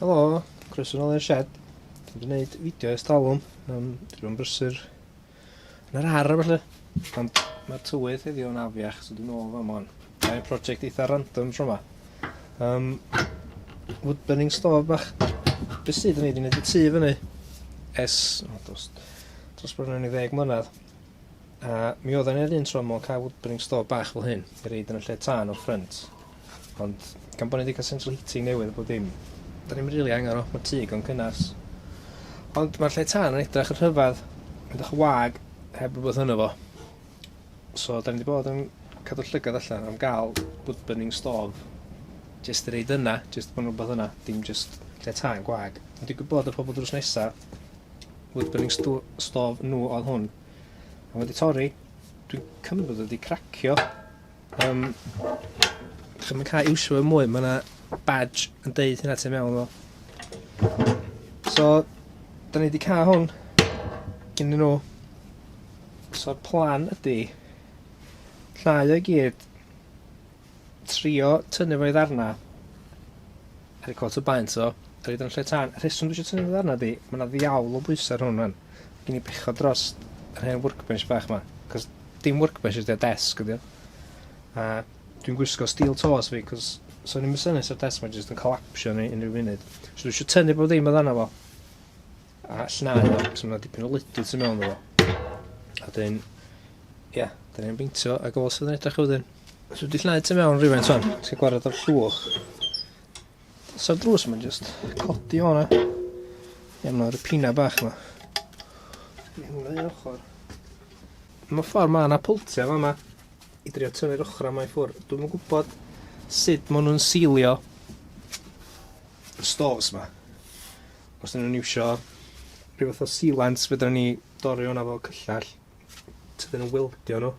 Helo, croeso nôl i'r shed. Dwi'n mynd i wneud fideo ers talwm. Um, dwi'n mynd brysur yn yr ar felly. Ond mae'r tywydd heddiw yn afiach, so dwi'n ôl fan mwan. Mae'n prosiect eitha random tro yma. Um, woodburning stove bach. Beth sydd yn ei wneud y tu fyny? Es, o, dos, dos bron yn ei ddeg mlynedd. A mi oedd yn yr un tro mewn cael woodburning stove bach fel hyn, i reid yn y lle tân o ffrynt. Ond gan bo' ni 'di ca'l central heating newydd a bob dim 'dan ni'm rili angan o. Ma'r tŷ digon cynnes. Ond ma'r lle tân yn edrach yn rhyfadd. Mae'n dych y wag heb rwbeth yno fo. So 'dan ni 'di bod yn cadw llygad allan am ga'l wood burning stove jyst i roid yna jyst bo' 'na rwbath yna dim jyst lle tân gwag. Ond digwydd bod y pobol drws nesa wood burning sto- stove n'w odd hwn. A ma' 'di torri. Dwi'n cymryd bod o 'di cracio. Um, Dwi'n mynd cael iwsio fe mwy, mae yna badge yn deud hynna ti'n mewn o. So, da ni wedi cael hwn gyn nhw. So'r plan ydy llnau o gyd trio tynnu fo i ddarna Harry Cole tybai'n so. Roid o'n lle tân. Y rheswm dwi eisiau tynnu fy ddarnau ydi, mae yna ddiawl o bwysau ar hwn rwan. Mae gen i bechod dros yr hen workbench bach yma. Cos dim workbench ydi o, desk ydi o. A dwi'n gwisgo steel toes fi, cos so ni'n mysynu ar desk mae jyst yn collapsio ni unrhyw funud. So dwi eisiau tynnu bod ddim o ddarnau fo. A llnau fo, cos mae yna dipyn o lydu tu mewn fo. A dyn, ia, dyn ni'n beintio a gofal sydd yn edrych wedyn. So wedi llnau tu mewn rhywfaint son, ti'n gwared o'r llwch. Sa'r drws yma jyst codi o'na. Ie, mae'r pina bach yma. Mae hwnna i ochr. Mae ffordd mae yna pwltiau yma yma. I drio tynnu'r ochr yma i ffwr. Dwi'n yn gwybod sut maen nhw'n seilio y stores yma. Os dyn nhw'n iwsio rhyw fath o sealants, fydden ni dorri o'na fo cyllall. Tydyn nhw'n wildio nhw.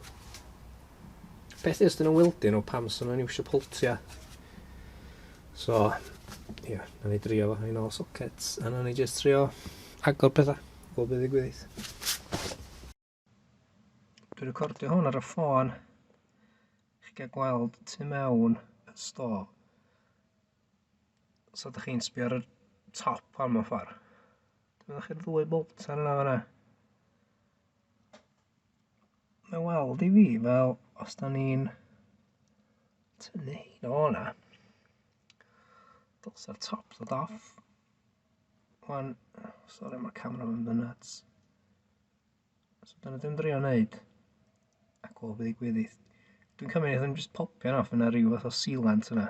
Peth ys dyn nhw'n wildyn o pam sy'n nhw'n iwsio poltia. So, ie, yeah, na ni drio fo, ein ôl sockets, a na ni jyst trio agor pethau, bob bydd i gwyddill. Dwi'n recordio hwn ar y ffôn. Chi'n cael gweld tu mewn y sto. So ydych chi'n sbio ar y top am y ffordd. Dwi'n meddwl chi'r ddwy bolt ar yna fanna. Mae weld i fi fel os da ni'n tynnu hyn o hwnna. Dylsa'r top ddod off. Wan, sori mae camera yn fy nuts. So dyna dim drio wneud. A gol bydd i gwyddi. Dwi'n cymryd i ddim jyst popio off yna rhyw fath o sealant yna.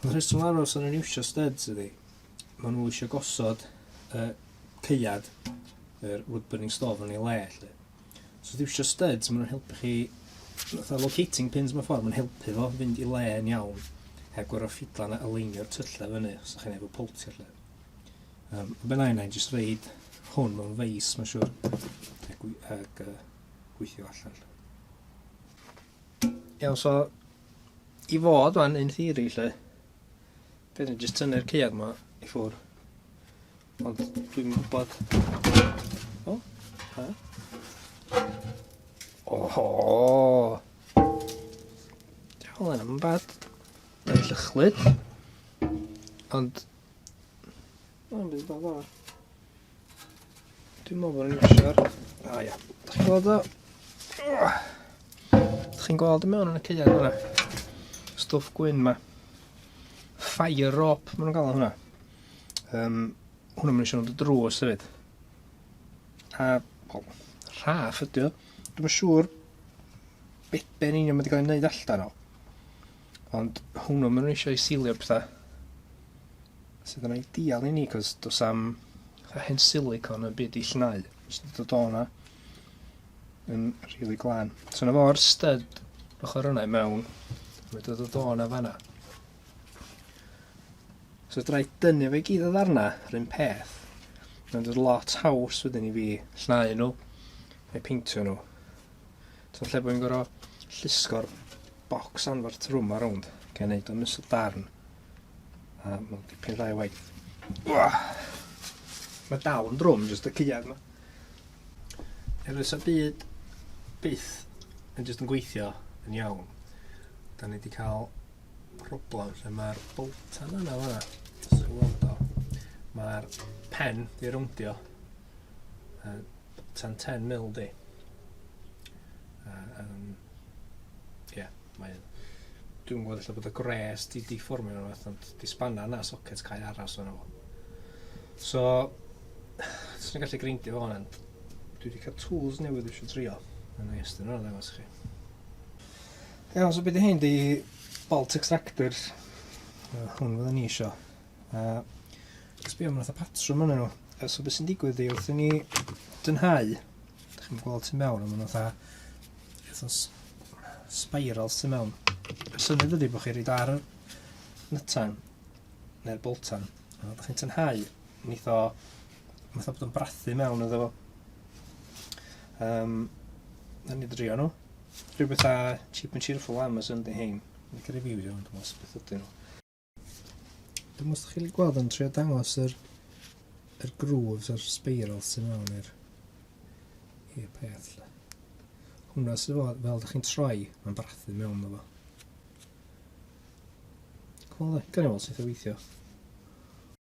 Ond rheswm aros o'n i'n iwsio studs ydi, maen nhw eisiau gosod y ceiad, yr wood burning stove yn ei le, lle. So os iwsio studs, maen nhw'n helpu chi, fatha locating pins mewn ffordd, maen helpu fo fynd i le yn iawn, heb gorau ffidlan a aleinio'r tyllau fyny, os ydych chi'n efo poltio lle. Um, ben a'i nain, jyst reid hwn mewn feis, mae'n siwr, ac, ac uh, gweithio allan. Iawn, so i fod wan in theory lle. Bydd ni jyst tynnu'r caead ma i ffwr. Ond dwi'n gwybod... O, ha? Oho! Diolch yn am bad. Mae'n llychlyd. Ond O, bydd yn dda. Dwi'n meddwl bod ni'n iwsio'r... A ia. Da chi'n gweld o? Da chi'n gweld y mewn yn y ceiad hwnna? Stwff gwyn ma. Fire rope, maen nhw'n gael hwnna. Um, hwnna maen nhw'n siarad y drws hefyd. A, wel, rhaff ydy o. Dwi'n siŵr beben union mae wedi cael ei wneud allan o. Ond hwnnw, maen nhw eisiau silio pethau sydd yn ideal i ni, cos dos am hen silicon y byd i llnau, sydd wedi dod o'na yn rili really glân. So na fo'r stud ochr yna i mewn, mae wedi dod o'na fanna. So drai dynnu fe gyd o ddarna, rhywun peth. Mae'n dod lot haws wedyn i fi llnau nhw, neu peintio nhw. So lle bod fi'n gorau llusgo'r bocs anferth trwm ar rownd, gan ei wneud o'n ystod darn. A mae'n dipyn dda i waith. Mae dal yn drwm, jyst y cyad yma. Efo sa byd byth yn jyst yn gweithio yn iawn. Da ni wedi cael problem lle mae'r boltan yna fanna. Mae'r pen di rowndio. tan 10 mil di. A, um, yeah, mae'n... Dwi'n gwybod allan bod y gwres di deformio nhw fath, ond di spanna na socket cael aros o'n nhw. So, os ni'n gallu greindio fo hwnna, dwi wedi cael tools newydd eisiau trio. Mae'n neis, dyn nhw'n ddangos chi. Iawn, so beth i hyn di bolt extractor. Hwn fydden ni eisiau. A sbio am fatha patrwm yna nhw. A so beth sy'n digwydd di wrth i ni dynhau, da chi'n gweld tu mewn, ond fatha fatha spirals tu mewn. Y syniad ydy bod chi'n rhaid ar nytan neu'r boltan. A da chi'n tynhau, mi tho, mi tho bod yn brathu mewn iddo fo. Um, na ni drio nhw. Rhywbeth a cheap and cheerful Amazon di hein. Mae'n cael reviews iawn, dwi'n meddwl, beth ydyn nhw. Dwi'n mwyn chi'n gweld yn trio dangos yr, yr grooves o'r spiral sy'n mewn i'r i'r peth. Lle. Hwna sy'n fod, fel ydych chi'n troi, mae'n brathu mewn ddo fo. Cwmol, gan i weld sut o weithio.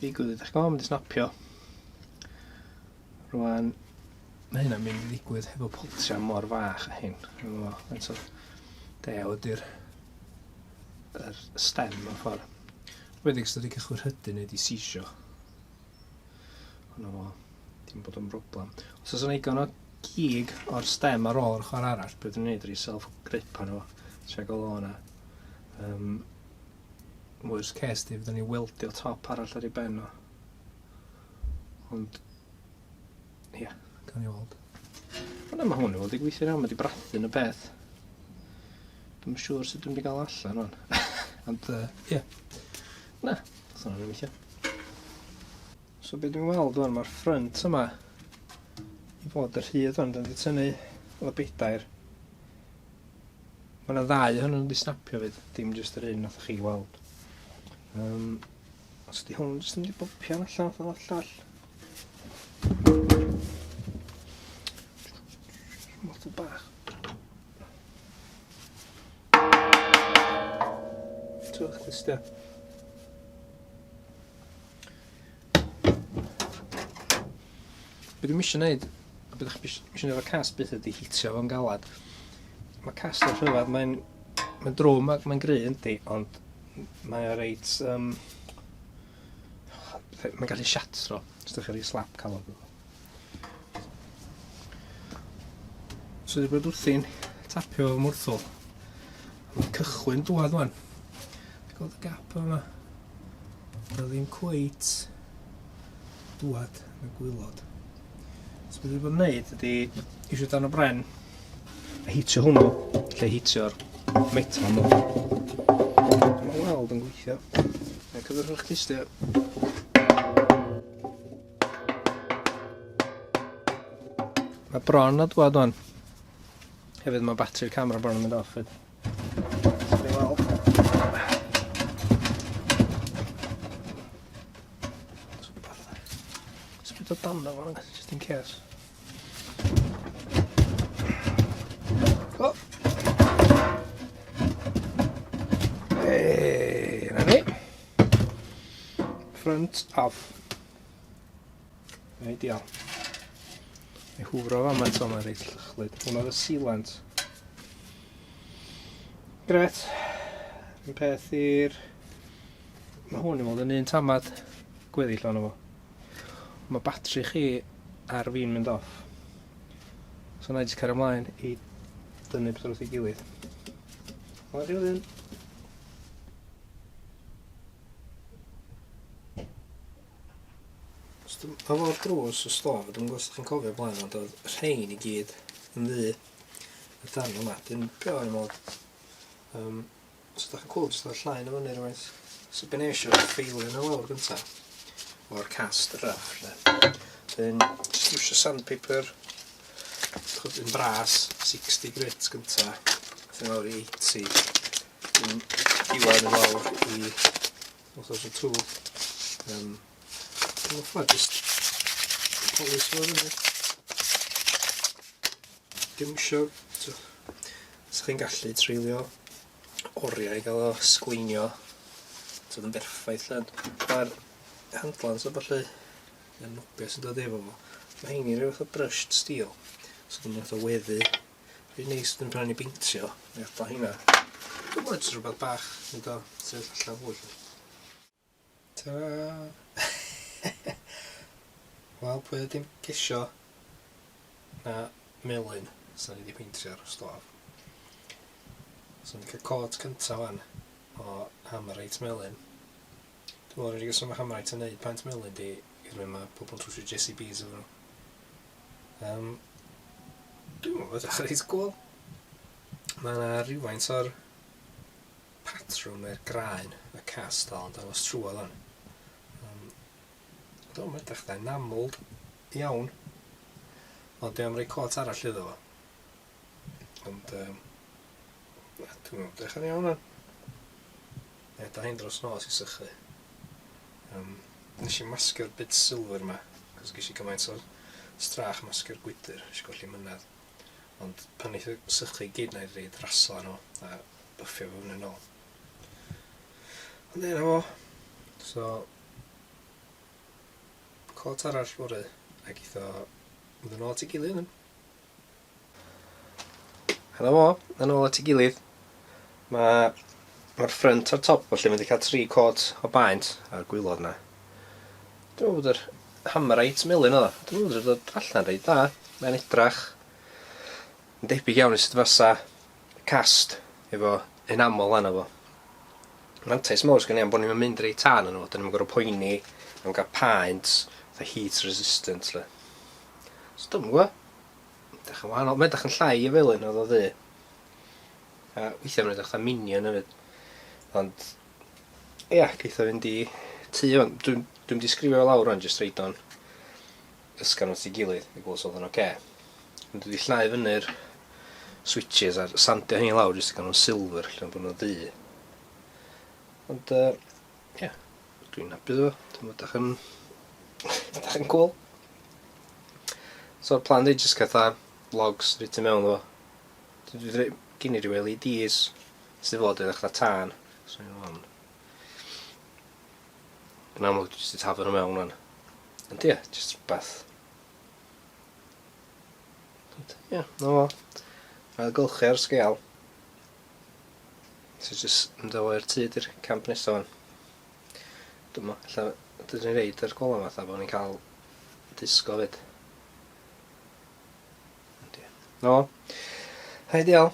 Digwydd, ydych chi'n mynd i snapio? Rwan, mae hynna'n mynd i ddigwydd hefo poltria mor fach a hyn. Faint o deo ydy'r yr stem mewn ffordd. Rwyddeg sydd wedi cychwyn hydu neu wedi sisio. Ond o, dim bod yn broblem. Os oes yna igon o gig o'r stem ar ôl yr ochr arall, byddwn ni'n gwneud rhi self-grip arno fo. Tra gael o yna. Um, Worst case di, fydden ni weldio top arall ar ei ben o. Ond, ia, yeah, gan i weld. Ond yma hwn i weld i gweithio iawn, mae di brathu yn y peth. Dwi'n siŵr sut dwi'n di gael allan hwn. Ond, ia. Uh, yeah. Na, that's not an issue. So beth dwi'n weld o'n mae'r ffrynt yma i fod y rhydd o'n dyn wedi tynnu o bedair Mae yna ddau ohonyn nhw'n disnapio fyd, dim jyst yr un nath chi weld. Um, os ydy hwn jyst yn mynd i bopio yn allan o'r llall. Motto bach. Twch ddisgyn. Be dwi'm isio neud, a be dach chi isio neud efo'r cast byth ydi hitio fo'n galad. Mae cast yn rhyfedd, mae'n mae'n drwm ac mae'n gry yndi, ond mae o reit... Um, mae'n gallu siatro, os ydych chi'n rhoi slap calon. So wedi bod wrthi'n tapio fy mwrthol. Mae'n cychwyn dwad wan. Gweld y gap yma. Mae ddim cweit dwad yn y gwylod. So wedi bod yn neud ydy eisiau dan y bren a hitio hwnnw lle hitio'r metal nhw. Mae'n weld yn gweithio. Mae'n cyfrwch eich tystio. Mae bron o dwad o'n. Hefyd mae batri camera bron yn mynd off. Fyd. Sbyd o dan o fan, just in case. Front off. Neu dial. Neu hwfro fan mae'n son reit llychlyd. Hwna oedd y sealant. Gret. Yn peth i'r... Mae hwn i fod yn un tamad gweddill o'n efo. Mae batri chi ar fi'n mynd off. So na i jyst cario ymlaen i dynnu pethau wrth ei gilydd. Mae'n rhywun. Os dwi'n efo drws y store, dwi'm yn gwybod os chi'n cofio blaen ond oedd rhein i gyd yn ddu y darn yma. Dwi'n beth o'n mod. Um, os ydych chi'n cool, jyst oedd llain o fyny rhywbeth. So be nes i ffeilio nhw lawr gyntaf o'r cast rough lle. Dwi'n just iwsio sandpaper Yn bras, 60 grit gynta, ti'n awr i 80, yn diwedd yn awr i 1002. Um, yn offa, just polis fo fyny. Dim isio, os chi'n gallu treulio oriau i gael o sgleinio, so yn berffaith lle, mae'r handlans o falle y nopia sy'n dod efo fo. Mae hein i rhyw fath o brushed steel. So dwi'n fath o weddu. Rwy'n neis dwi'n pan i beintio. Mae o hynna. Dwi'n bod rhywbeth bach. Dwi'n do. Ti'n allan fwy. Ta. Wel, pwy oedd dim gesio na melyn sy'n wedi peintio'r stof. So ni'n cael cod cyntaf fan o hammer reit melyn. Dwi'n meddwl yr unig reswm pam rhaid ti wneud paent melyn di oherwydd mae pobl yn trwsio JCBs efo nhw. Um, dwi'n meddwl bod edrych reit gwl. Mae yna rhywfaint o'r patrwm er graen y cast dal yn dangos trwodd hwn. Um, dwi'n meddwl edrych da, enamled iawn. Ond dwi am rei cot arall iddo fo. Ond, um, dwi'n meddwl, edrych yn iawn hwn. Ie, da ni'n dros nos i sychu. Yym, nes i maskio'r bits silver 'ma, cos ges i gymaint o strach maskio'r gwydyr, nes i golli mynedd. Ond pan neith y sychu i gyd 'na i reid raslo arno fo, a byffio fo fyny nôl. Ond ie, 'na fo. So, cot arall fory, ac eitho mynd yn ôl at ei gilydd wedyn. A 'na fo, yn ôl at ei gilydd. Mae mae'r ffrynt a'r top felly mae wedi cael tri côt o baent a'r gwylod yna. Dwi'n meddwl bod yr hammerite melyn oedd o. Dwi'n meddwl bod dod allan reit dda. Mae'n edrach yn debyg iawn i sut fasa cast efo enamel lan fo. Mantais mawr sgynnu am bod ni'n mynd reit tan yn nhw. Dyn ni'n gorfod poeni am gael paent the heat resistant le. So dwi'n gwybod. Edrych yn wahanol. Mae'n edrych yn llai o felyn oedd o ddu. A weithiau mae'n edrych fatha minion hefyd. Ond, ia, yeah, geith o fynd i tu hwn. Dwi'n dwi mynd i sgrifio fel awr o'n jyst reid o'n ysgan wrth i gilydd i gwrs oedd yn oce. Okay. Ond wedi llnau fyny'r switches a'r sandio hynny lawr jyst i gael nhw'n silver lle bod nhw'n ddu. Ond, uh, Ie, dwi'n hapus efo fo. Dwi me'wl dach yn dach yn cŵl. So'r plan fi jyst catha logs reit i mewn efo. Dwi dwi rei- gin i ryw El Ee Dees sy fod yn echda tân. So un o hon. Yn amlwg dwi jyst 'di taflu nw mewn ŵan. Ond ie, jyst rwbath. Ond ie, 'na fo. Ailgylchu ar sgêl. So jyst mynd â fo i'r tŷ di'r camp nesa ŵan. Dwi me'wl ella dydyn ni reid yr gola fatha bo' ni'n ca'l disgo 'fyd. Yndi. No. Hei dial.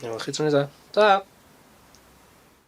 Wel chi tro nesa. Tara!